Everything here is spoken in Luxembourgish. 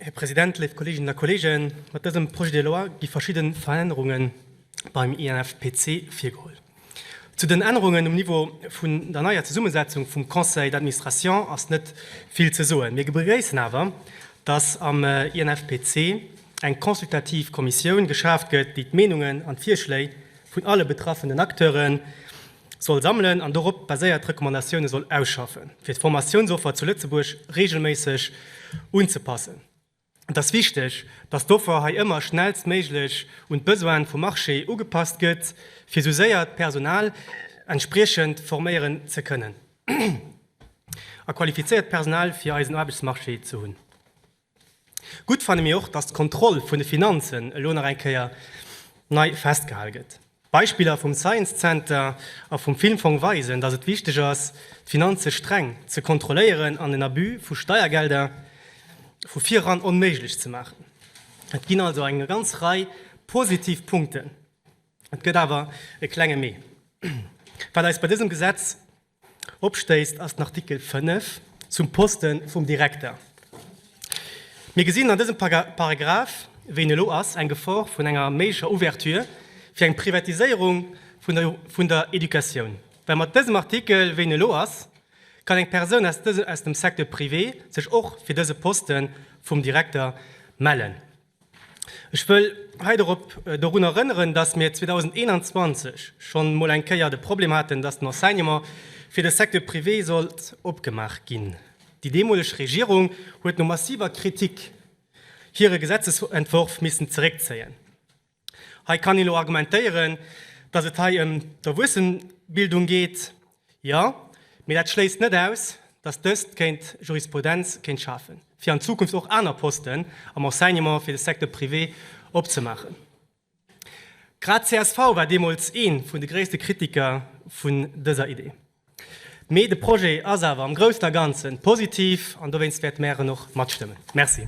Här President, léif Kolleeginnen a Kolleegen, mat dësem Projet de loi gi verschidde Verännerunge beim INFPC virgeholl. Zu den Ännerungen um Niveau vun der neier Zesummesetzung vum Conseil d'administration ass net vill ze soen. Mir begréissen awer, dass am INFPC eng consultativ Kommissioun geschaaft gëtt, déi d'Meenungen an d'Virschléi vun alle betraffenen Acteuren soll sammelen an dorop baséiert Recommandatioune soll ausschaffen, fir d'Formatiounsoffer zu Lëtzebuerg reegelméisseg unzepassen. Et ass wichteg, datt d'Offer hei ëmmer schnellstméiglech un d'Besoine vum Marché ugepasst gëtt, fir esou séier d'Personal entspriechend forméieren ze kënnen a qualifizéiert Personal fir eisen Aarbechtsmarché ze hunn. Gutt fanne mir och, datt d'Kontroll vun de Finanzen elo nach eng Kéier nei festgehal gëtt. D'Beispiller vum Science Center a vum Filmfong weisen, datt et wichteg ass, d'Finanze streng ze kontrolléieren an den Abus vu Steiergelder vu vir eran onméiglech ze maachen. Et ginn also eng ganz Rei positiv Punkten. Et gëtt awer e klenge Mee, wat eis bei dësem Gesetz, Opstéisst ass den Artikel 5 zum Poste vum Direkter. Mir gesinn an dësem Paragraph, wéi en elo ass, eng Gefor vun enger méiglecher Ouverture fir eng Privatiséierung vun der Educatioun, well mat dësem Artikel, wéi en elo ass, kann eng Persoun aus dem Secteur privé sech och fir dëse Poste vum Direkter mellen. Ech wëll hei dorop dorun erënneren, dass mir 2021 schonn emol eng Kéier de Problem hatten, dass den Enseignement fir de Secteur privé sollt opgemaach ginn. Déi deemoleg Regierung huet no massiver Kritik hire Gesetzesentworf missen zeréckzéien. Hei kann een elo argumentéieren, dass et hei ëm d'Erwuessenenbildung geet. Jo, mee dat schléisst net aus, datt dëst kéint Jurisprudenz kéint schafen, fir an Zukunft och aner Posten am Enseignement fir de Secteur privé opzemaachen. Grad csv war deemools ee vun de gréisste Kritiker vun dëser Idee. Mee de Projet ass awer am Groussen a Ganzen positiv an dowéinst wäerte mäer en och matstëmmen. Merci.